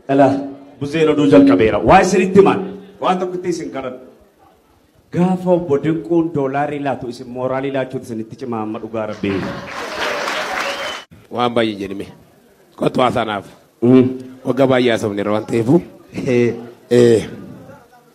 Dhala buzeen oduu jalqabeera. Waa isinitti himaan waan tokkotti isin kadhadha. Gaafa obbo Dinquun doolaarii laatu isin mooraalii laachuun isinitti cimaa amma dhugaa rabbii. Waan baay'ee jedhime. Kottu haasanaaf. Waggaa baay'ee haasofneera waan ta'eefu. Eh,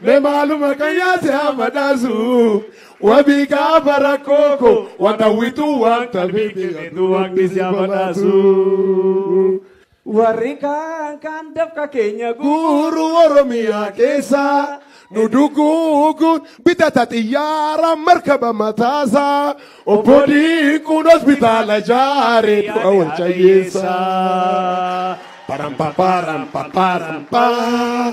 Me maaluma kan yaase amma dhaasu wabii gaafa rakkoo koo waan hawwitu waan tabeeti jedhu waaqni si amma dhaasu. Warri kaan kaan dafqa keenya guuru Oromiyaa keessa nu duguuguun bitata xiyyaara markaba mataasa obbo Diinquun hospitaala jaare du'a wal cayyeessa. Param paparam paparam paa.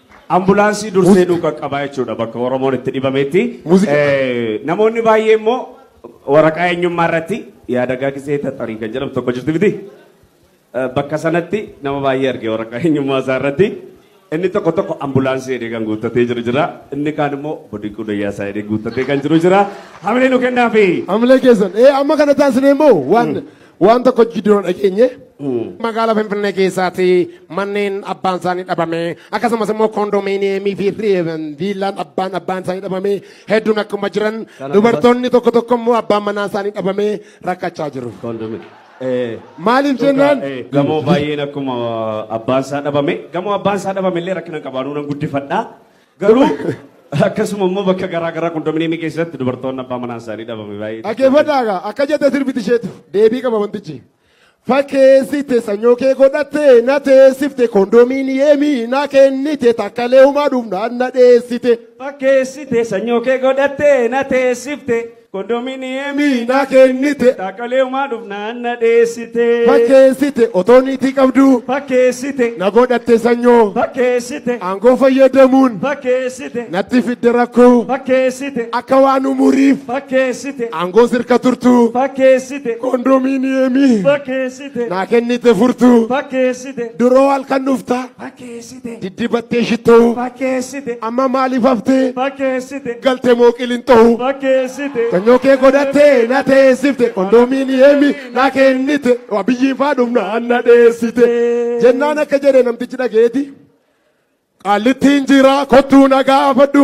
Ambulaansii dursee nu qaqqabaa jechuudha bakka Oromoon itti dhibametti. Muuziqaa. Eh, Namoonni baay'ee immoo waraqaa eenyummaa irratti yaadagaa gisee taxarii kan jedhamu tokko jirti miti. Eh, Bakka sanatti nama baay'ee arge waraqaa eenyummaa isaa irratti. Inni tokko tokko ambulaansii jedhee kan guuttatee jiru jira. Inni kaan immoo bodiquu dayyaa isaa jedhee guuttatee kan jiru jira. Hamilee nu kennaafi. Hamilee keessan. Ee amma kana taasisnee immoo waan Waan tokko jidduu dhageenye magaalaa Finfinnee keessaati manneen abbaan isaanii dhabame akkasumas immoo koondomiiniyeemii fi viillaan abbaan abbaan isaanii dhabame hedduun akkuma jiran dubartoonni tokko tokko immoo abbaan manaa isaanii dhabame rakkachaa jiru. Maaliif jennaan? Gamoo baay'een akkuma abbaan isaa dhabame gamoo abbaan isaa dhabame illee rakkina qabaanuu nan guddifadhaa. Garuu akkasuma immoo bakka garaa garaa kondominiyeemii keessatti dubartoonni abbaa manaan isaanii dhabame baay'ee. Dhaggeeffadhaa egaa akka jette sirbiti isheetu deebii qaba wantichi. Fakkeessite sanyoo kee godhatte na teessifte kondominiyeemii na kennite takkalee humaa dhufnaan na dheessite. Fakkeessite sanyoo kee godhatte na teessifte Kondominiyeemii na kennite. Dhaaqaleemaa dhufnaan na dheessite. Fakkeessite otoo niitii qabduu. Fakkeessite. Na godhatte sanyoo. Fakkeessite. Aangoo fayyadamuun. Fakkeessite. Natti fidde rakkoo. Fakkeessite. Akka waan umuriif. Fakkeessite. Aangoo sirka turtuu. Fakkeessite. Kondominiyeemii. Fakkeessite. Na kennite furtuu. Fakkeessite. Duroo halkan dhuftaa. Fakkeessite. fakkeessite diddibattee shittoo fakkeessite amma maaliif haftee fakkeessite galte moo qilinxoo fakkeessite sanyoo kee godhattee na teessifte kondoominiyeemi na kennite abiyyiin faa dhumna anna dheessite jennaan akka jedhe namtichi dhageeti qaallittiin jira kottuu na gaafadhu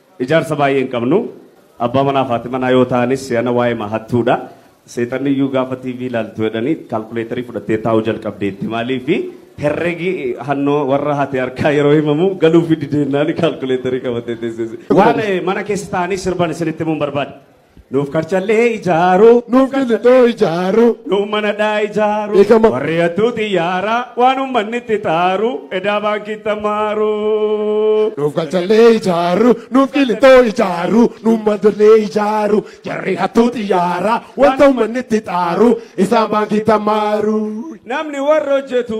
Ijaarsa baay'ee hin qabnu. Abbaa manaaf haati manaa yoo ta'anis si'ana waa'eema hattuudha. Seexanniyyuu gaafa TV ilaaltu jedhanii kaalkuleetarii fudhattee taa'uu jalqabdeetti. Maaliif herregi hannoo warra haati harkaa yeroo himamu galuufi dideennaan kaalkuleetarii qabattee teessees. Waan mana keessa taa'anii sirban isinitti himuun barbaada. Nuuf karchallee ijaaru. Nuuf gillixoo ijaaru. Nuuf manadhaa ijaaru. Beekama. Warri hattuu xiyyaara waan uummanni itti taaru edaa baankii tamaaru. Nuuf galchallee ijaaru, nuuf qilixoo ijaaru, nuuf mandollee ijaaru, jarri hattuu xiyyaara, wanta uummanni itti xaaru, isaan baankii tamaaru. Namni warra hojjetu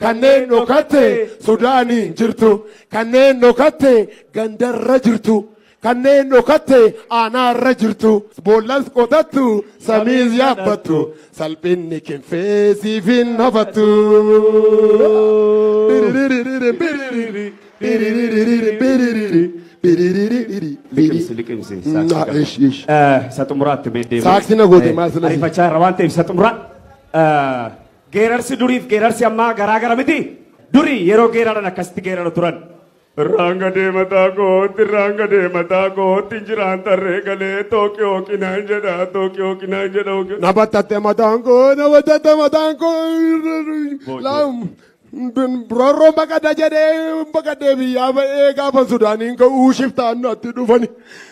Kanneen dhokatte Sudaaniin jirtu, kanneen dhokatte gandarra jirtu, kanneen dhokatte aanaarra jirtu, boollas qotattu, samiis yaabbattu, salphinni kinfee siif hin hafattu. Liqimsi liqimsi Mm, saaksii ah, kana. ish, ish. Eh, Isa xumuraatti mee deebiin. Saaksii na goote, Eh, maal sila si- Ariifachaa irra waan ta'eef isa xumuraa. Eh, Geerarsi duriif geerarsi ammaa garaa gara miti? Duri yeroo geeraran akkasitti geerara turan. Irraan gadee mataa kootti, irraan gadee mataa kootti, jiraan tarree galee tooqi hooqinaan jedha, tooqi hooqinaan jedha. hooqi- Na battatte mataan koo, na battatte mataan koo. Laam. Rorroon baqadha jedhee baqadhee biyyaa ba'ee gaafa Sudaaniin ka'uu shiftaan natti dhufani.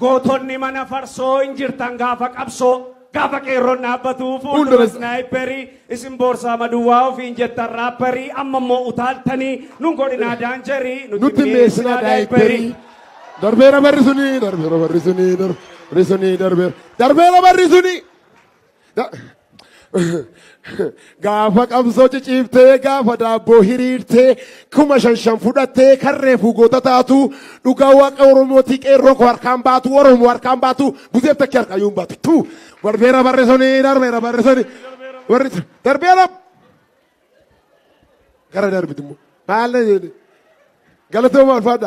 Gootonni mana farsoo hin jirtan gaafa qabsoo gaafa qeerroon dhaabbatu fuuldura snaayipperii isin boorsaa maduwaa ofiin jettan raapperii amma immoo utaaltanii nun godhinaa daanjerii nutti mi'eessinaa daayipperii. Darbeera barri suni darbeera barri suni darbeera suni darbeera darbeera barri suni. gaafa qabsoo ciciiftee gaafa daabboo hiriirtee kuma shan shan fudhattee kan reefuu goota taatu dhugaa waaqa oromootii qeerroo koo harkaan baatu oromoo harkaan baatu buzeef takkee harkaa yuun baatu tuu darbeera barreessanii darbeera barreessanii warri darbeera gara darbitummoo maal na jedhe galatoomaa ulfaadha.